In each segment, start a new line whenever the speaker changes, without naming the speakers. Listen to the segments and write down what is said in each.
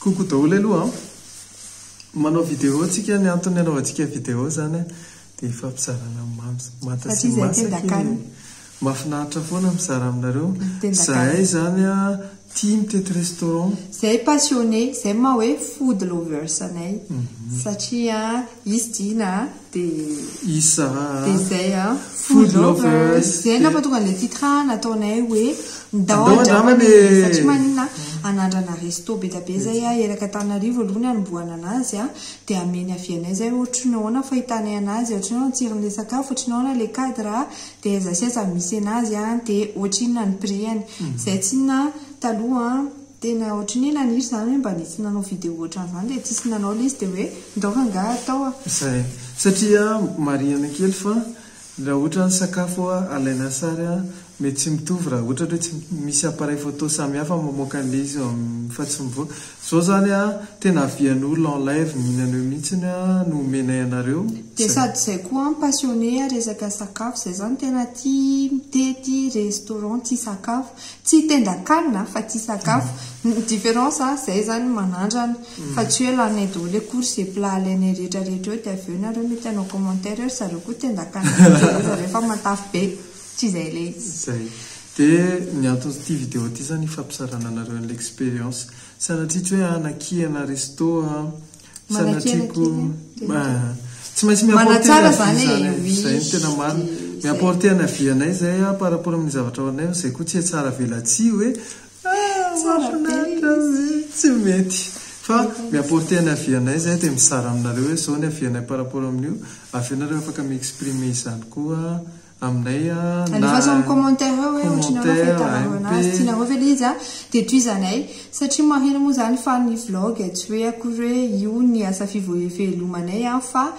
Coucou daholo aloha an! Manao vidéo tsika ny antony anaovantsika vidéo zany an dia hifampizarana ny mamy manta sy masaka e! Mafinaritra foana mizara aminareo! Zahay zany an tia mitety restaurant! Zay passionné,
zay maha hoe food lovers anay satria an hisy Dina an! Isa
dia izay a
food lovers dia angamba tonga ilay titre nataonay hoe ndao andramana e fa tsy maninona anandrana resto bedabe izay a erak' antananarivo aloha ny anombohana anazy a dia ameny avy anay izay ohatry ny ahoana fahitanay anazy ohatry ny ahoana ny tsirony ilay sakafo ohatry ny ahoana ilay cadre a dia aiza sy aiza no misy anazy a dia ohatry inona ny prix-any izay tsy inona taloha Tena ohatry ny hoe naniry zany hoe mba nitsy nanao video ohatran'izany dia tsisy nanao ilay izy dia hoe ndao fa angaha atao a. Izay.
Satria marihana kely fa raha ohatra ny sakafo alaina sary a, mety tsy mitovy raha ohatra hoe tsy misy appareil photo samihafa mamoaka an'ilay izy amin'ny fa tsy mivoaka. Izao izany a, tena avian'olona en live mihinana eo mihitsy a no omenay anareo. Dia sady izay
koa an, passionné resaka sakafo izay izany tena tia mitety restaurant tia sakafo. Tsy tendan-kanina fa tsy sakafo. Ny différence an, izay izany manandrana fa tsy hoe laninay daholo eo course et plat alainay rehetra rehetra eo dia avy eo nareo mety hanao commentaire eo ry zareo koa tendan-kanina be ry zareo fa matavy be. Tsy izay ilay izy. Izay.
Dia ny anton'ity vidéo ity izany hifampizarana anareo an'ilay expérience. Sanatria tsy hoe hanakiana resto an. Sanatriako tsy maintsy mi-apporter ny avis zany e, izay no tena marina, mi-apporter ny avis anay izay a par rapport amin'ny zavatra ao anay fa izay koa tsy hay tsara velatsihy hoe ah mahafinaritra ve tsy mety fa mi-apporter ny avis anay izay dia mizara aminareo hoe izao ny avis anay par rapport amin'io, avy eo nareo afaka mi-exprimer izany koa aminay a na Alefaso amin'ny
commentaire eo hoe ohatry ny ahoana commentaire, fahitanareo MP. anazy. Tianareo ve ilay izy a? Dia tohizanay. Satria maheno moa izany fa ny vlog tsy hoe akory hoe io ny asa fivoevelomanay a fa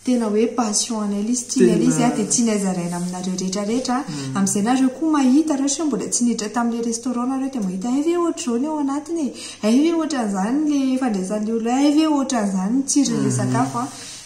tena hoe passion anay ilay izy, tianay ilay izy a Tena. dia tianay zaraina aminareo rehetra rehetra amin'izay nareo koa mahita ireo sao mbola tsy niditra tamin'ilay restaurant nareo dia mahita hay ve ohatr'izao ny ao anatiny e, hay ve ohatran'izany ilay fandraisan'ilay olona, hay ve ohatran'izany ny tsiron'ilay sakafo a.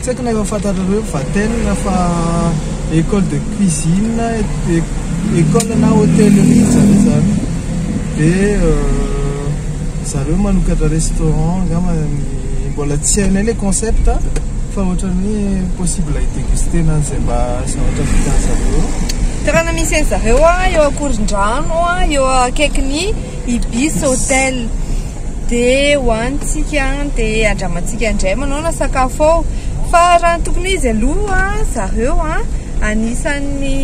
Tsy haiko na efa fantatrareo Vatel fa école de cuisine, école na hôtellerie zany zany. Dia zareo manokatra restaurant angamba ny mbola tsy hainay ilay concept fa ohatran'ny hoe possible hi-déguster-na an'izay mba zavatra vitan'ny zareo eo. Toerana misy
an'i zareo eo Ankorondrano eo akaikin'ny Ibis Hotel. dia hohanintsika dia andramantsika indray manao na sakafo ao fa raha ny tokony izy aloha zareo a anisan'ny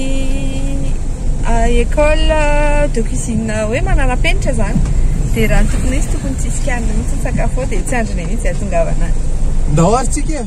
école de cuisine hoe manarapenitra zany dia raha ny tokony izy tokony tsy hisy kianina mihitsy ny sakafo ao dia tsy andriny mihitsy ahatongavana any ndao ary
tsika e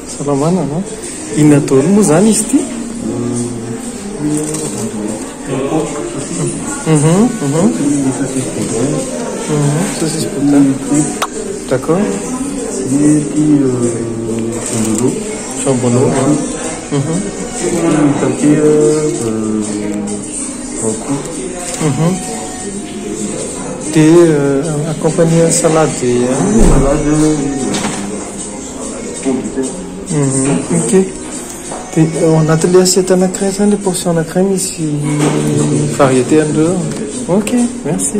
Salamana a! Inona daholo moa izany izy ity? Saucisse boudin.
D'accord. Jambonneau.
Dia accompagner salade. Okay. Dia ao anatin'ilay assiette anankiray izany ilay portion anankiray misy variété an'ireo. Okay, merci.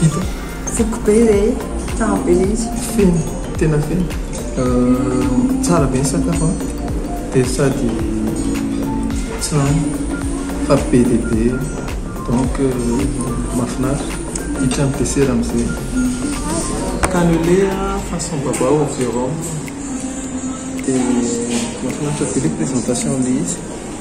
Vita. Foko be re, tsara be le izy. Feno, tena
feno. Tsara be ny sakafo an, dia sady tsy lany fa be dia be donc mahafinaritra. Hiditra ny dessert amin'izay. Cannelé façon babao au rhum dia mahafinaritra be le présentation le izy.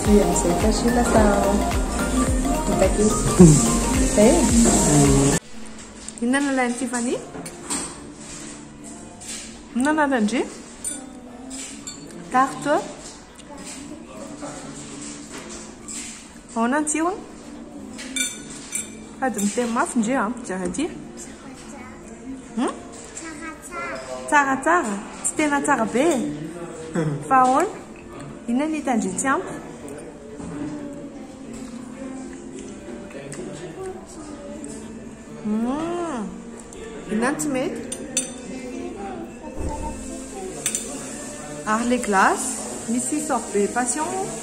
Dia amin'izay koa soa lasa vita kely. Izay e. Inona no ilain'i Tiffany? Inona no ananan'dry? Tarte. Ahoana ny tsirony? Sady miteny mafy ndry an, mijery aty. Hmm? Tsaratsara. Tsy tena tsara be e. Fa ahoana? Inona ny tandritsy amiko? Hum, inona ny tsy mety? Ary le glace, misy sorbet passion moa?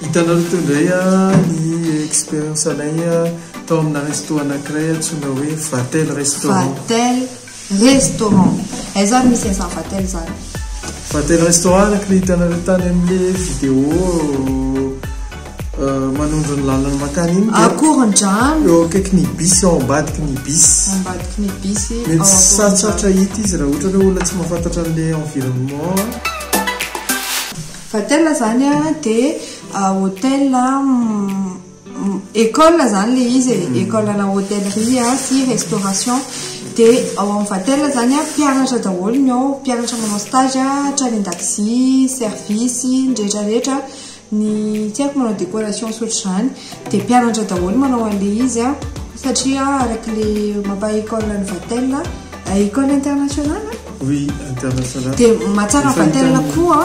Hitanareo teo indray ny expérience anay tao amina resto anankiray antsoina hoe Vatel restaurant. Restaurant.
Aiza ary misy an'izany Vatel zany? Vatel
restaurant araka ilay hitanareo tany amin'ilay vidéo manondro ny lalana mankany iny dia Ankorondrano. eo
akaiky ny bus ao
ambadiky ny bus. Ao ambadiky ny bus ao Mety Ankorondrano. sarotsarotra hita izy raha ohatra hoe olona tsy mahafantatra an'ilay environnement.
Vatel zany dia hotel École zany le izy e, école ana hôtellerie sy restauration dia ao amin'ny Vatel zany mpianatra daholo ny ao, mpianatra manao stage hatrany an-dakozia, service, ny rehetrarehetra, ny tsy haiko manao décoration sy ohatr'izany dia mpianatra daholo manao an'ilay izy an, satria araka ilay mampaha école an'i Vatel, école internationale an?
Oui, international. Dia mahatsara ny
vatelana koa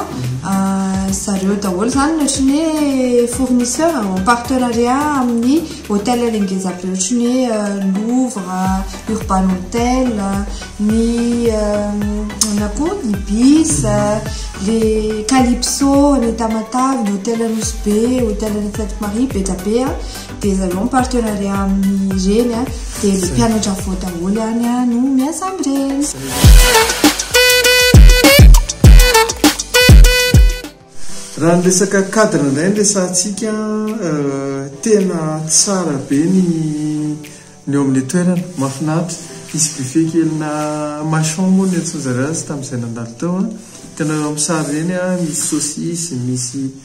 zareo daholo izany ny ohatran'ny hoe fournisseur en partenariat amin'ny hôtel le ngeza be ohatran'ny hoe Louvre, Urban Hotel, ny na koa Ibis, le Calypso, ny Tamatave, ny hôtel Nosy Be, hôtel Fête Marie, be dia be. dia zareo partenariat amin'ireny a dia le mpianatra avoa daholo ihany a no miasa amin'ireny
raha ny resaka cadre indray ny resantsika euh, tena tsara be ny ny eo amin'ny toerana mahafinaritra isy buffet kelina machon moa ny antsonjary azy tamin'izay nandalo teo a tena eo amin'ny sary ireny a misy saucisse misy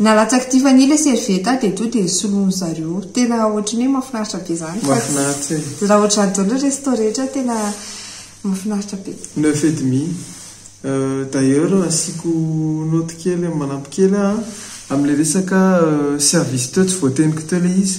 Nalatsaky Tiffany ilay serviette dia tonga dia soloiny zareo. Tena ohatran'ny hoe mahafinaritra be izany fa Mahafinaritra e. Raha
ohatran'izany daholo ny resto
rehetra tena mahafinaritra be. Neuf et demi.
D'ailleurs asiako note kely manampy kely aho a, amin'ilay resaka service teo tsy voateniko teo ilay izy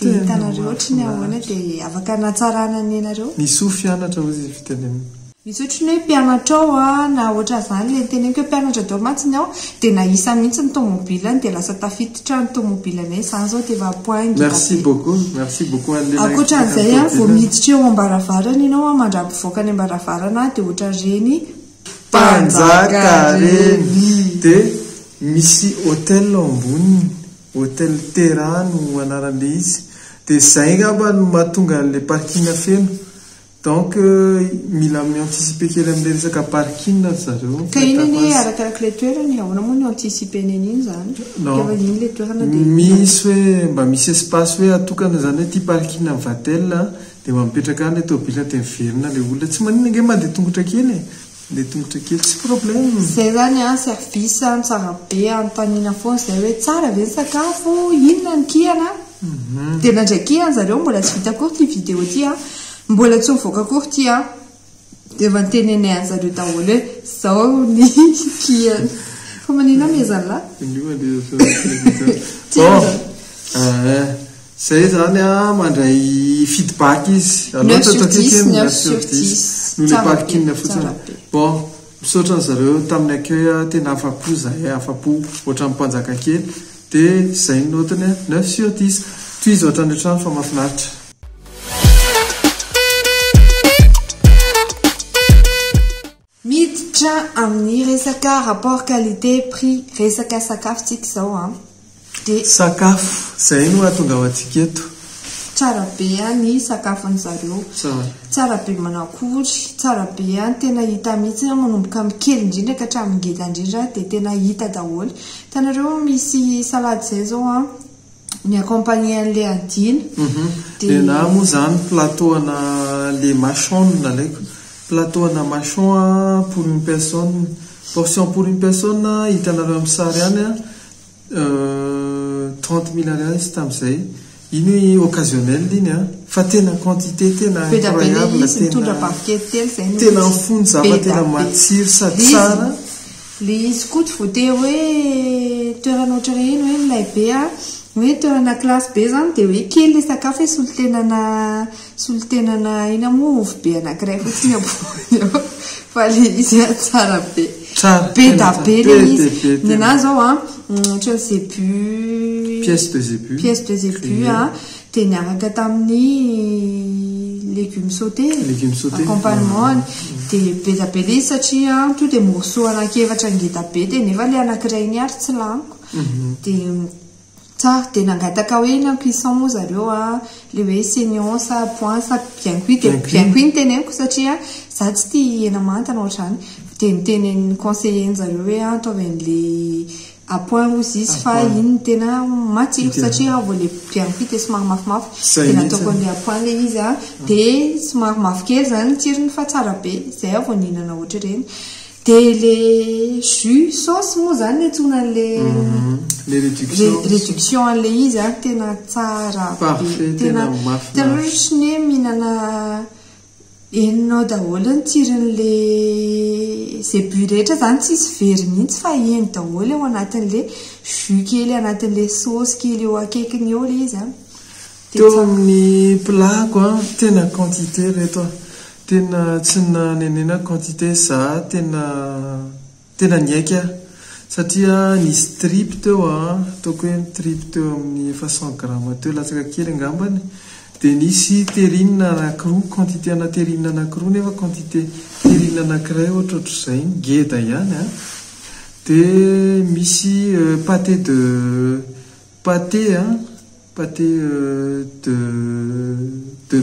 Dia hitanareo ohatry ny ahoana dia afaka natsarana ny anareo? Ny soa fianatra hozy
izy fitenenina. Misy ohatry ny hoe
mpianatra ao a, na ohatran zany le niteneniko hoe mpianatra daholo mantsy ny ao dia nahisa mihitsy ny tomobilany dia lasa tafititra ny tomobilanay izany zao dia efa point ngita be. Merci beaucoup,
merci beaucoup an'i lehilahy Ankoatra
an'izay a, vao miditra eo am-baravarana ianao a, mandra-pivoaka any am-baravarana a, dia ohatran'ireny mpanjaka
ireny. Dia misy hotel ao amboniny. Hotel Terra no anaran'le izy. Dia zay angamba no mahatonga an'le parking feno. Donc mila mi-anticiper kely amin'le resaka parking ry zareo. Ka iny anie arakarak'le
toerana e, ahoana moa no anticiper-ny an'iny izany? Ka fa iny le toerana dia. Misy
hoe mba misy espace hoe atokana izany hoe ity parking an'i Vatel dia mba mipetraka any le tomobilina dia miverina le olona. Tsy maninona ange mandeha tongotra kely e. Le tongotra kely tsy problème. Zay zany an
service an tsara be anontaniana foana zay hoe tsara ve ny sakafo inona ny kihana dia nandray kihana zareo mbola tsy vita akory ity vidéo ity an mbola tsy mivoaka akory ity an dia efa notenenay anzareo daholo hoe zao ny kihana fa maninona amezanlah? Indrindra le efa tsy azo atao. Tsia.
Zay izany an, mandray feedback izy. Aleo Neuf sur dix,
tantatitin neuf sur dix. No le Tsara be, parking tsara
fotsiny. be. Bon, misaotra an'i zareo tamin'ny accueil a, tena afa-po izahay, afa-po ohatran'ny mpanjaka kely. Dia izay ny note-ny an, neuf sur dix. Tohizo hatrany an-trano fa mahafinaritra.
Miditra amin'ny resaka rapport qualité prix resaka sakafo tsika izao an! Dia. Sakafo,
izay no hahatonga ho antsika eto. Tsara be
an ny sakafon'ny zareo. Tsara. Tsara be manakory, tsara be an, tena hita mihitsy an, manomboka amin'ny kely indrindra ka hatramin'ny ngeda indrindra dia tena hita daholo. Hitanareo misy salade izay izao an! Ny accompagner an'ilay andiana. Uhum. Dia na
moa izany plateau ana le machon no nalaiko. Plateau ana machon a pour une personne. Portion pour une personne hitanareo amin'ny sary any a trente mille ariary tamin'izay. Iny hoe occasionnel iny a. Fa tena quantité tena incroyable. Tena mifono zavatra tena matsiro sady tsara. Ilay izy
koa tsy voatery hoe toerana ohatran'ny hoe iny hoe milay be a, hoe toerana classe be izany dia hoe kely ilay sakafo hoe solontenana solontenana inona moa ovy be anankiray fotsiny ampovoany eo fa ilay izy a tsara be. Tsara, be da be ilay be izy. dia be Ny tena. anahy izao a, ohatran'ny zebu, Pièce de zébu.
pièce de zebu a, Dia
niaraka tamin'ny légumes sautés, Légumes sautés. accompagnement-ny. Dia be dia be ilay izy satria tonga dia morceaux anankiefatra ngeda be dia nefa ilay anankiray iny ary tsy laniko. Dia tsara. Dia nangataka hoe inona ny cuisson moa zareo an, ilay hoe saignon sa point sa bien cuit. Dia Bien cuit. bien cuit no teneniko satria izaho tsy tia hena manta na ohatr'izany. Dia ny tenenin'ny conseiller-ny zareo hoe ataovy an'ilay à point ozy izy fa iny tena matsiro satria aho vao le biryani ity dia somary mafimafy dia nataoko an'ilay à point ilay izy dia somary mavokely izany ny tsirony fa tsara be izay aho vao nihinana ohatr'ireny dia ilay jus sauce moa izany no antsoina an'ilay ilay réduction réduction an'ilay izy an tena tsara be tena tena hoe mihinana Henonao daholo ny tsirin'ilay zebu rehetra izany tsisy very mihitsy fa heno daholo ao anatin'ilay jus kely anatin'ilay saosy kely eo akaikiny eo ilay izy an. Teo
amin'ny plat ko an, tena quantité ireto an, tena tsy nanenenako quantité za tena. Tena niaiky aho satria nisy tripy teo a, ataoko hoe ny tripy teo amin'ny efa cent grammes teo latsaka kely angambany, dia nisy terrine anankiroa, quantité ana terrine anankiroa nefa quantité terrine anankiray ohatrohatr'izay, ngeda ihany a, dia misy pâté de pâté a, pâté de de.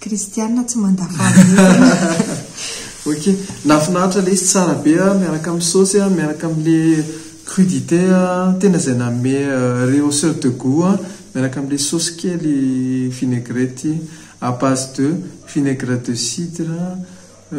Kristiana tsy manda fahavelona.
Ok, nafinaritra lesy tsara be a, miaraka amin'ny saosy a, miaraka amin'ilay crudité a, tena izay nanome rehausseur de gout a, miaraka amin'ilay saosy kely vinaigrette à base de vinaigre de cidre a,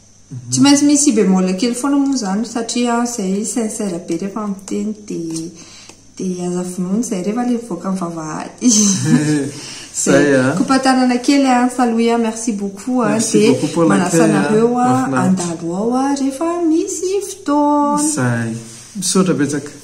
Tsy maintsy misy si bémol kely foana moa izany satria izay sincère be rehefa miteny dia dia aza vonoina izay rehefa ilay mivoaka amin'ny vavahady. Zay ah. Kopatanana kely ah, Saloui ah, merci beaucoup ah, dia manasa anareo ah, handalo ao ah, rehefa misy fotoana.
Zay. Misaotra betsaka.